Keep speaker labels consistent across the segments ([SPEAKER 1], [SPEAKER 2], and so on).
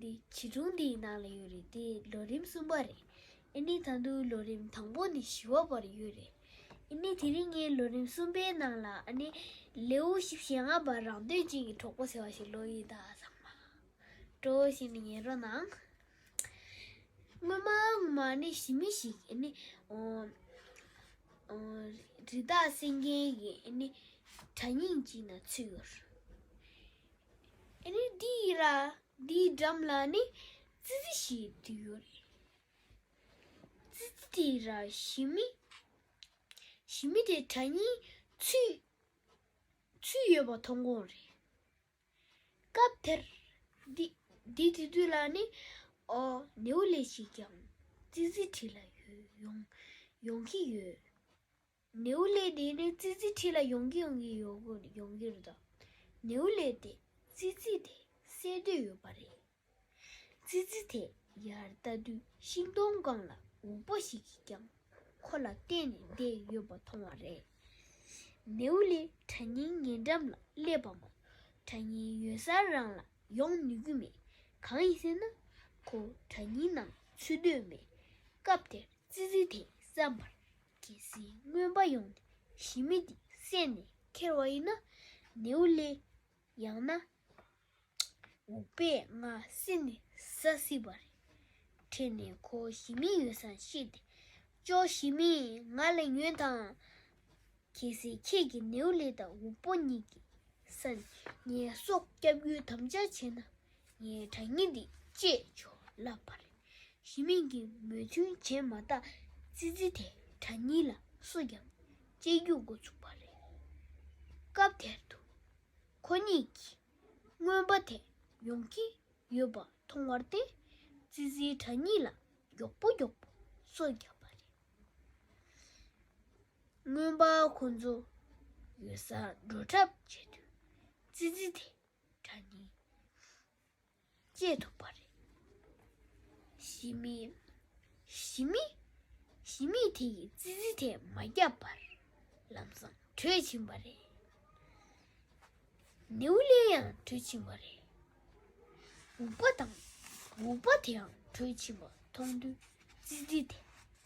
[SPEAKER 1] འདི་བྱིས་སྒྲུང་འདིའི་ནང་ལ་ཡོད་རེད་དེ་ལོ་རིམ་གསུམ་པ་རེད་ཨེ་ནི་ད་འདུག་ལོ་རིམ་དང་པོ་ནི་བཞི་བ་བར་ཡོད་རེད་ཨེ་ནི་དེ་རིང་ངས་ལོ་རིམ་གསུམ་པའི་ནང་ལ་ཨ་ནི་ལེའུ་བཞི་བཞི་ལྔ་བར་རང་དོན་ཅན་གྱི་གྲོགས་པོ་ཟེར་བ་ཞིག་ཀློག་ཡིན་ད་བསམ། མ་འགྲོ་ཞེས་ནི་ཉན་རོགས་གནང། སྔོན་མ་ངོ་མ་ཨ་ནི་ཞི་མི་ཞིག་ཨེ་ནི། རི་དྭགས་སེང་རྒྱན་གྱི་ཨེ་ནི་དྲ་སྙིང་ཅིག་ན་ཚུད་ཡོད། རི་འདིའི་ར་འདིའི་འགྲམ་ལ་ནི་ཙི་ཙི་ཞིག་བྲིས་ཡོད་རེད། ཙི་ཙི་དེའི་ར་ཞི་མི་ཞི་མི་དེ་གྲ་སྙིང་ཚུད་ཚུད་ཡོད་པ་མཐོང་གོང་རེད། སྐབས་དེར་འདི་འདི་བྲིས་དུས་ལ་ནི་ཨོ་ནེའུ་ལེ་ཞིག་ཀྱང་ཙི་ཙི་བྲིས་ལ་ཡོང་ཡོང་གི་ཡོད། ནེའུ་ལེ་དེ་ནི་ཙི་ཙི་ཁྲི་ལ་ཡོང་གི་ཡོང་གི་ཡོང་གི་རེད། ནེའུ་ལེ་དེས་ཙི་ཙི་དེ་བསད་འདོད་ཡོད་པ་རེད། ཙི་ཙི་དེ་ཡར་ལྟ་དུས་ཤིང་སྡོང་སྒང་ལ་འུག་པ་ཞིག་གིས་ཀྱང་ཁོ་ལ་བལྟས་ནས་བསྡད་ཡོད་པ་མཐོང་བ་རེད། ནེའུ་ལེ་གྲྭ་རྙིང་ཉེ་འགྲམ་ལ་སླེབས་པ་མོ་གྲྭ་རྙིང་ཡོད་སར་རང་ལ་ཡོང་ནུས་ཀྱི་མེད། གང་ཡིན་ཟེར་ན་ཁོ་གྲྭ་རྙིང་ནང་ཚུད་འདོད་མེད། སྐབས་དེར་ཙི་ཙི་དེས་བསམ་པར། གལ་སྲིད་རྔོན་པ་ཡོང་ནས་ཞི་མི་དེ་བསད་ནས་ཁྱེར་བ་ཡིན་ན་ནེའུ་ལེ། ཡང་ན་འུག་པས་ང་བསད་ནས་ཟ་སྲིད་པ་རེད། ཁྲེལ་ནས་ཁོ་ཞི་མི་ཡོད་སར་ཤི་སྟེ་ཅོ་ཞི་མི་ང་ལ་ཉོན་དང། གལ་སྲིད་ཁྱེད་ཀྱིས་ནེའུ་ལེ་དང་འུག་པོ་གཉིས་ཀྱི་ས་ནས་ངའི་སྲོག་བསྐྱབས་རྒྱུའི་དམ་བཅའ་བྱས་ན་ངའི་དྲ་ཉིན་འདི་བཅས་ཆོག་ལབ་པ་རེད། ཞི་མིང་གིས་མོས་མཐུན་བྱས་མ་ཐག་ཙི་ཙི་དེས་དྲ་ཉིན་ལ་སུ་ཡང་གཅེས་རྒྱུ་འགོ་ཚུགས་པ་རེད། སྐབས་དེར་དུ་ཁོ་གཉིས་ཀྱིས་རྔོན་པ་དེ་ཡོང་གི་ཡོད་པ་མཐོང་བར་བརྟེན་ཙི་ཙིའི་དྲ་ཉིན་ལ་མགྱོགས་པོ་མགྱོགས་པོ་སོ་བརྒྱབ་པ་རེད། རྔོན་པ་ཁོ་ཚོ་ཡོད་སར་འགྲོ་གྲབས་བྱེད་དུས་ཙི་ཙི་དེས་དགྲ་གཉེན་བཅས་ཐུབ་པ་རེད། ཞི་མི། ཞི་མི། ཞི་མི་དེ་ཡིས་ཙི་ཙི་དེ་མ་བརྒྱབ་པར་ལམ་སང་བྲོས་ཕྱིན་པ་རེད། ནེའུ་ལེ་ཡང་བྲོས་ཕྱིན་པ་རེད། འུག་པ་དང་འུག་པ་དེའང་བྲོས་ཕྱིན་པ་མཐོང་དུས་ཙི་ཙི་དེ།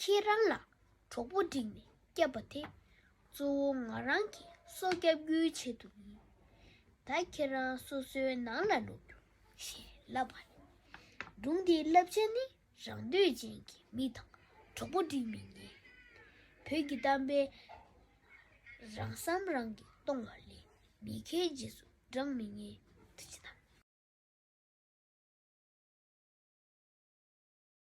[SPEAKER 1] ཁྱེད་རང་ལ་གྲོགས་པོ་བསྒྲིགས་ནས་བསྐྱབས་པ་དེ་གཙོ་བོ་ང་རང་གིས་སོ་བསྐྱབ་རྒྱུའི་ཆེད་དུ་ཡིན། ད་ཁྱེད་རང་སོ་སོའི་ནང་ལ་ལོག་རྒྱུ་ཞེས་ལབ་པ་ལས། སྒྲུང་འདིའི་བསླབ་བྱ་ནི་རང་འདོད་ཅན་གྱི་མི་དང་གྲོགས་པོ་བསྒྲིགས་མི་ཉན། བོད་ཀྱི་གཏམ་དཔེ། རང་བསམ་རང་གིས་གཏོང་བ་ལས་མི་མཁས་རྗེས་སུ་འབྲངས་མི་ཉན། ཅེས་དང།